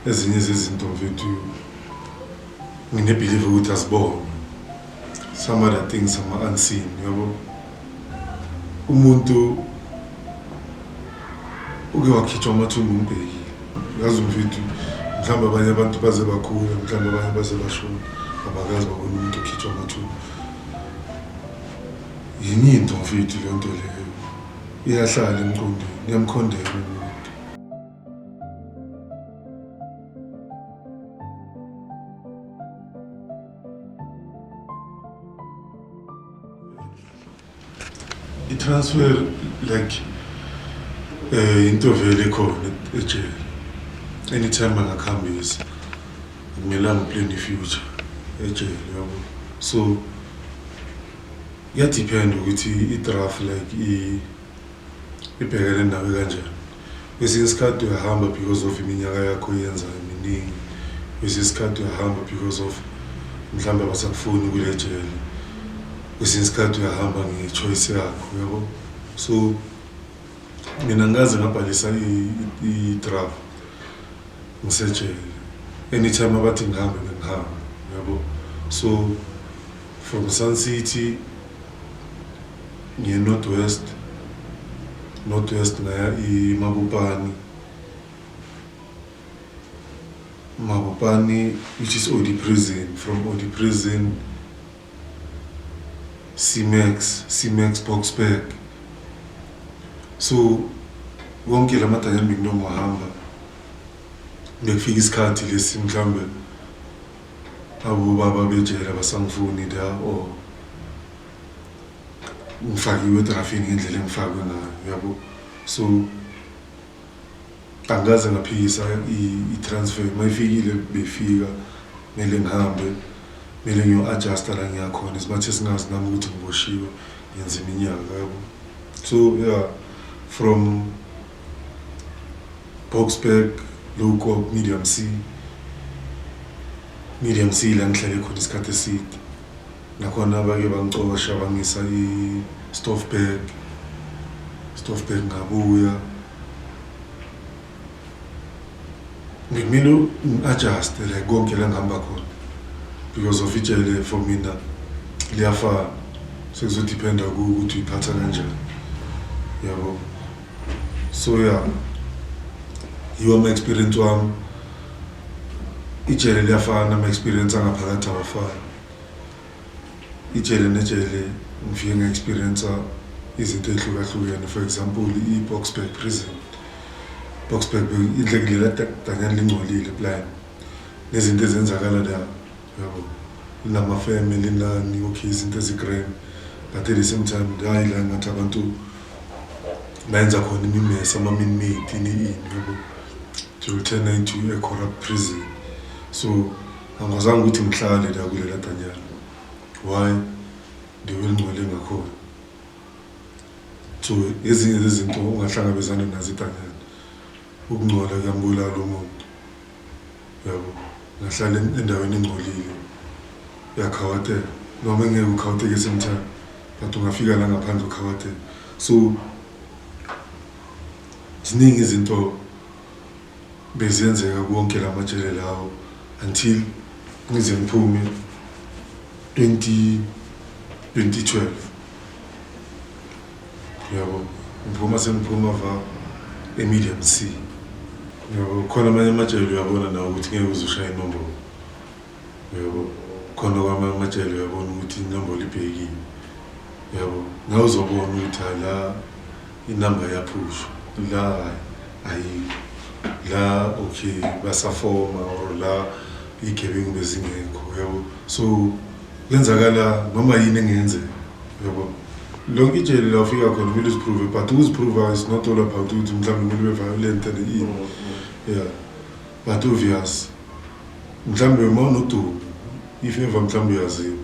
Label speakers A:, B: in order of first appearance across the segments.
A: Ezinye zezinto mfethu ngine believe ukuthi azibonwe. Some other things ama unseen, yabo. Umuntu uke wakhitshwa amathumbu umbhekile. Yazi mfethu mhlawumbe abanye abantu baze bakhula, mhlawumbe abanye baze bashona. Abakazi babona umuntu okhitshwa amathumbu. Yini into mfethu le nto leyo? Iyahlala emqondweni, iyamkhondela umuntu. transfer like eh into vele khona ejele anytime angakhambisa akumelanga plan ifuture ejele yabo so yadepend ukuthi i-draft like i ibhekene nawe kanjani kwesinye isikhathi uyahamba because of iminyaka yakho oyenzayo miningi kwesinye isikhathi uyahamba because of mhlawumbe abasakufuni kule jele kwesinye isikhathi uyahamba nge-choice yakho yabo so mina ngikaze ngabhalisa i-draft ngisejele anytime abathi ngihambe bengihambe yabo so From Sun City ngiye North West, North West ngaya iMabopane. Mabopane which is Odi Prison, from Odi Prison Simex, Simex Boksburg. So wonke la madynamic noma uhamba bekufika isikhathi lesi mhlawumbe Awu ubaba bejele abasangifuni la or oh. ngifakiwe edrafini ngendlela engifakwe ngayo yabo so angikaze ngaphikisa i-transfer uma ifikile beyifika kumele ngihambe kumele ngiyo-adjusta la ngiyakhona isimathi esingazi nami ukuthi ngiboshiwe ngenza iminyaka yabo so ya yeah, from Boksburg, Luko, Medium C. Medium C la ngihlale khona isikhathi eside. Nakhona bake bangicosha bangisa i-Stoffberg. Stoffberg ngabuya. Ngikumele ngi-adjust like konke la ngihamba khona because of ijele for mina liyafana. Sekuzodependa kuwe ukuthi uyiphatha kanjani. Yabo? so ya yeah. yiwo ama-experience wami ijele liyafana nama-experience angaphakathi awafani ijele nejele ngifike nge-experience izinto ey'hlukahlukene for example i-boxburg prison boxburg indlekulela danyani lingcolile plan nezinto ezenzakala la Yabo nilama family nani okay izinto ezi grand but at the same time hayi la ngathi abantu bayenza khona imimesa ama minmate ini ini yabo to return into a corrupt prison so angazange ukuthi ngihlale la kulela danyana why ndiwelingcwele ngakhona so ezinye zezinto ungahlangabezana nazo idanyana ukungcola kuyambulala umuntu yabo ngahlala endaweni engcolile yakhawatela noma bengeke ukhawateke sometimes but ungafika la ngaphandle ukhawatela so ziningi izinto beziyenzeka konke la majele lawo until ngize ngiphume 20 2012 Yebo, ngiphuma sengiphuma va eMedium C. Yebo, khona amanye amajele uyabona nawe ukuthi ngeke uze ushaye inombolo. Yebo, khona kwamanye amajele uyabona ukuthi inombolo ibhekile. Yebo, ngeke uzobona ukuthi hayi la inamba yaphushwa. La hayi, ayikho. La okay basafoma or la iy'gebengu bezingekho, yabo. So Kuyenzakala noma yini engenzeka. Yabo. Lonke ijele la ufika khona kumele uziprove but ukuziprova is not all about ukuthi mhlawumbe kumele ube violent and yini. Yeah. But obvious. Mhlawumbe uma unodumo if ever mhlawumbe uyaziwa.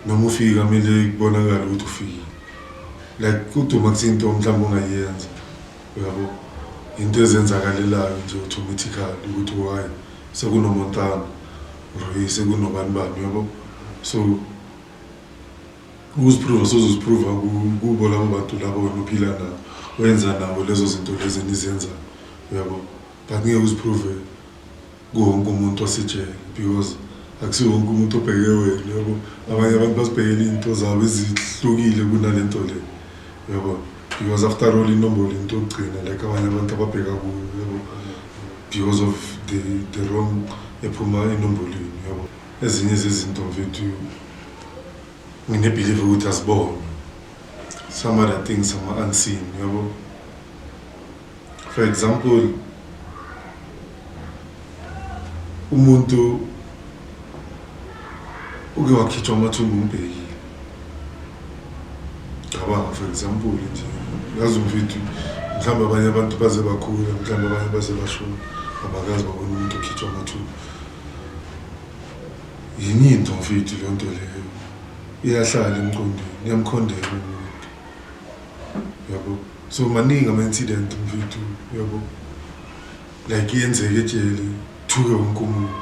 A: Noma ufika kumele kubonakale ukuthi ufikile. Like kuduma kusinto mhlawumbe ongayenza. Yabo. Into ezenzakalelayo nje automatically ukuthi why. Sekuno Montana Rui sekuno bani bani yabo so ukuziprova sozoziprova kubo labo bantu labo wena uphila nabo wenza nabo lezo zinto lezi nizenza yabo but ngeke uziprove kuwonke umuntu osejele because akusiwo wonke umuntu obheke wena yabo abanye abantu bazibhekela izinto zabo ezihlukile kunale nto le yabo because after all inombolo into yokugcina like abanye abantu ababheka kuyo yabo because of the, the wrong ephuma enombolweni yabo ezinye zezinto mfethu nginebhilive ukuthi asibonwe some other things ama-unseen yabo For example, umuntu uke wakhitshwa amathumbu umbhekile cabanga for example nje yazi mfethu mhlawumbe abanye abantu baze bakhula mhlawumbe abanye baze bashona abakazi babona umuntu okhitshwa amathumbu yini into mfethu leyo nto leyo iyahlala emqondweni iyamkhondela umuntu yabo So maningi ama incident mfethu yabo. Like yenzeke ejele thuke wonke umuntu.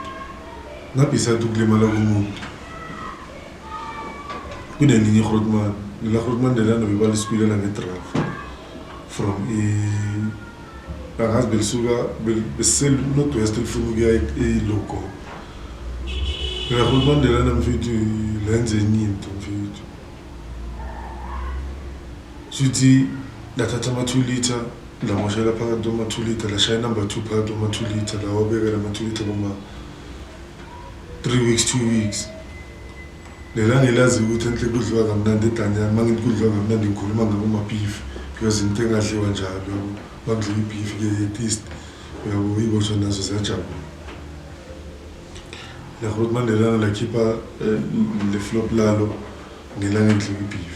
A: Ngabhisa ukulimala kumuntu. Kunelinye iGrootman, lela Grootman lelana bebalisikwilela ngedraft from i angazi belisuka besiseNorth West lifuna ukuya eLogo. Lela Grootman lelana mfethu lenze enye into mfethu. Shuthi lathatha ama 2 litre lamoshela phakathi kwama 2 litre lashaya number 2 phakathi kwama 2 litre lawabeka lama 2 litre kuma 3 weeks 2 weeks lela ngelazi ukuthi enhle kudliwa kamnandi edanyana uma ngithi kudliwa kamnandi ngikhuluma ngabo mabeef because into engadliwa njalo yabo bakudliwa ibeef ke yetist uyabo ibosho nazo ziyajabula lakhuluma nelanga lakhipha eh, le flop lalo ngelanga ngidliwa ibeef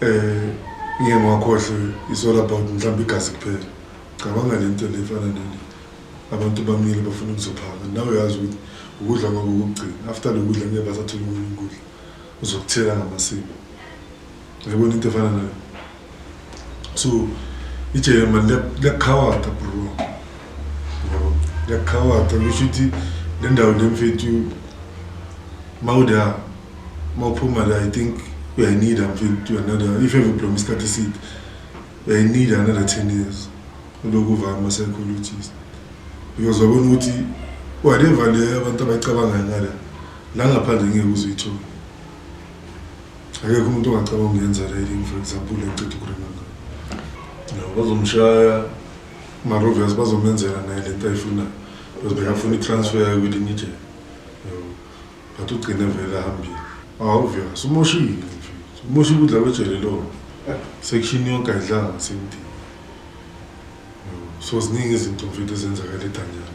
A: Eh ngeke ngwakhohlwe is all about mhlawumbe igazi kuphela. Cabanga le nto le efana nale. Abantu bamile bafuna ukuzophaka. Nawe uyazi ukuthi ukudla kwabo kokugcina. After lo kudla ngeke basathola okunye ukudla. Uzokuthela ngamasiko. Uyabona into efana nayo? so ijele mani liyakukhawata bro liyakukhawata kusho ukuthi le ndawo le mfethu mawuda mawuphuma la i think uyayineeda mfethu another if ever blom isikhathi eside uyayineeda another ten years uloku uva ama-psychologist because wabona ukuthi whatever le abantu abayicabangayo ngala la ngaphandle ngeke uzuyithole Akekho umuntu ongacabanga ukuyenza riding for example enceda ukurenanga. No, bazomshaya mara obvious bazomenzela naye lento ayifunayo because bekafuna i-transfer yayo kwelinye ijele. But ugcine vele ahambile. Ah obvious umoshile mfethu. Umosha ukudla kwejele lona. Section yonke ayidlanga same thing. So ziningi izinto mfethu ezenzakala eDanyana.